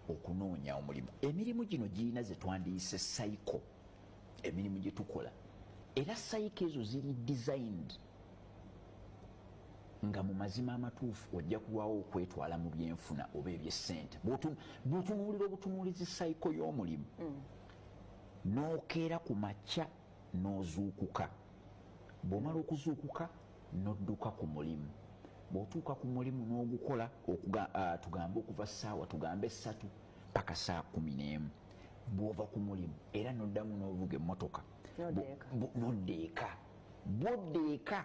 okunoonya omulimu emirimu gino girina zetwandiyise cycle emirimu gyetukola era cycle ezo ziri designed nga mu mazima amatuufu ojja kulwawo okwetwala mu byenfuna oba ebyessente bwotunuulira obutunuulizi cycle y'omulimu mm. n'okeera ku makya n'ozuukuka bw'omala okuzuukuka n'odduka ku mulimu bw'otuuka ku mulimu n'ogukola tugambe okuva ssaawa tugambe essatu paka saa kumi n'emu bw'ova ku mulimu era n'oddamu n'ovuga emmotoka nodda eka bwodda eka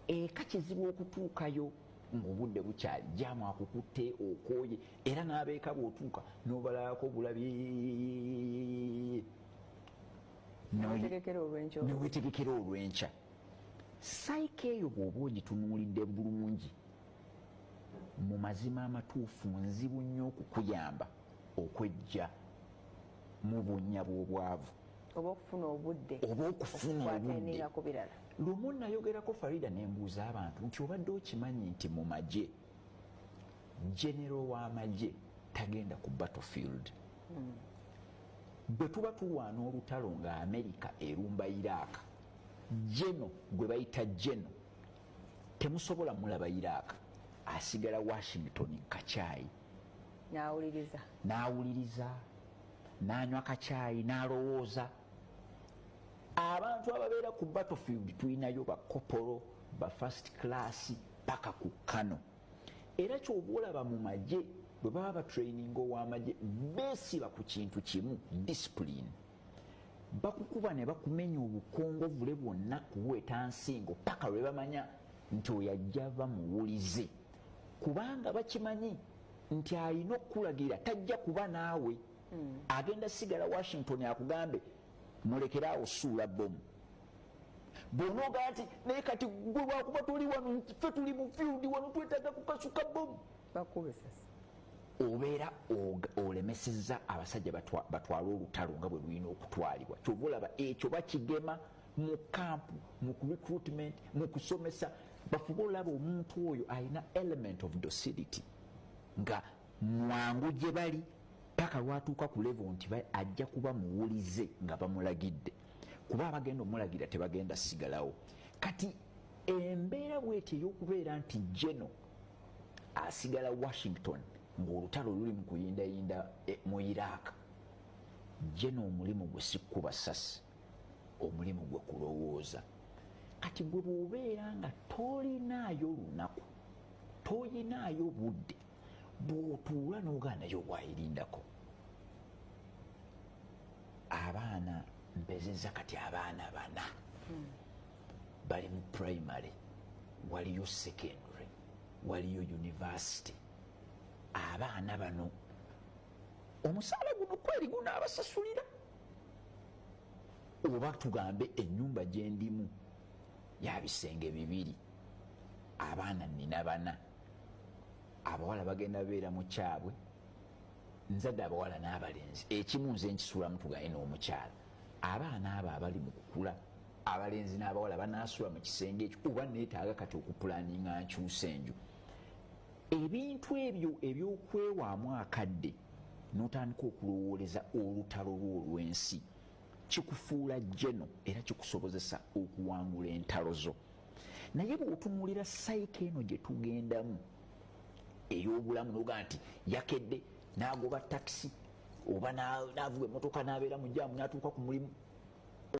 eka kizibu okutuukayo ng'obudde bukyali jaamu akukutte okooye era n'abeeka bw'otuuka n'obalalako obulabi newetegekera olwenkya saika eyo bwoba ogitunuulidde bulungi mu mazima amatuufu nzibu nnyo okukuyamba okwejja mu bunnya bw'obwavu oba okufuna obudde oba okufuna obudde lumu nayogerako farida nembuuza abantu nti obadde okimanyi nti mu magye genero w'amagye tagenda ku battlefield hmm. bwe tuba tulwana olutalo nga amerika erumba iraaka geno gwe bayita geno temusobola mulaba iraaka asigala washington kacyayi n'awuliriza n'awuliriza n'anywa kacyayi n'alowooza abantu ababeera ku battlefield tulinayo bakopolo ba first class paka ku kano era kyoba olaba mu magye bwe baba batraining owamagye besiba ku kintu kimu discipline bakukuba ne bakumenya obukongovule bwonna kuweeta nsingo paka lwe bamanya nti oyajja bamuwulize kubanga bakimanyi nti alina okukulagira tajja kuba naawe hmm. agenda sigala washington akugambe Mulekere awo suula bomu. Bwonogamba nti naye kati gwe lwakuba tuli wano ffe tuli mu field wano twetaaga kukasuka bomu. Bakube sasa. Obeera olemesezza abasajja batwala olutalo nga bwe lulina okutwalibwa. Kyova olaba ekyo bakigema mu kampu, mu recruitment, mu kusomesa. Bafube olaba omuntu oyo alina element of docility nga mwangu gye bali paka lwatuuka ku levo nti ajja kuba muwulize nga bamulagidde kuba abagenda omulagira tebagenda sigalawo kati embeera bweti eyokubeera nti geno asigala washington ngaolutalo luli mu kuyindayinda eh, mu iraq geno omulimu gwe sikkuba sasi omulimu gwe kulowooza kati gwe bwobeera nga tolinaayo lunaku toyinaayo budde bwotuula nogaa naye owayirindako abaana mpezeza kati abaana bana hmm. bali mu primary waliyo secondary waliyo university abaana bano omusaala guno kweri gunaabasasulira oba tugambe enyumba gyendimu yabisenge bibiri abaana nina bana abawala bagenda beera mukyabwe nzadde abawala n'abalenzi ekimu nze nkisulamu tugaye n'omukyala abaana abo abali mu kukula abalenzi n'abawala banasula mu kisenge ekyo oba neetaaga kati okupulaninga nkyusa enju ebintu ebyo ebyokwewaamu akadde notandika okulowooleza olutalo lwo olw'ensi kikufuula jeno era kikusobozesa okuwangula entalo zo naye bwotunulira sayika eno gyetugendamu eyobulamu noga nti yakedde nagoba takisi oba navuga emotoka nabeera mujamu natuuka ku mulimu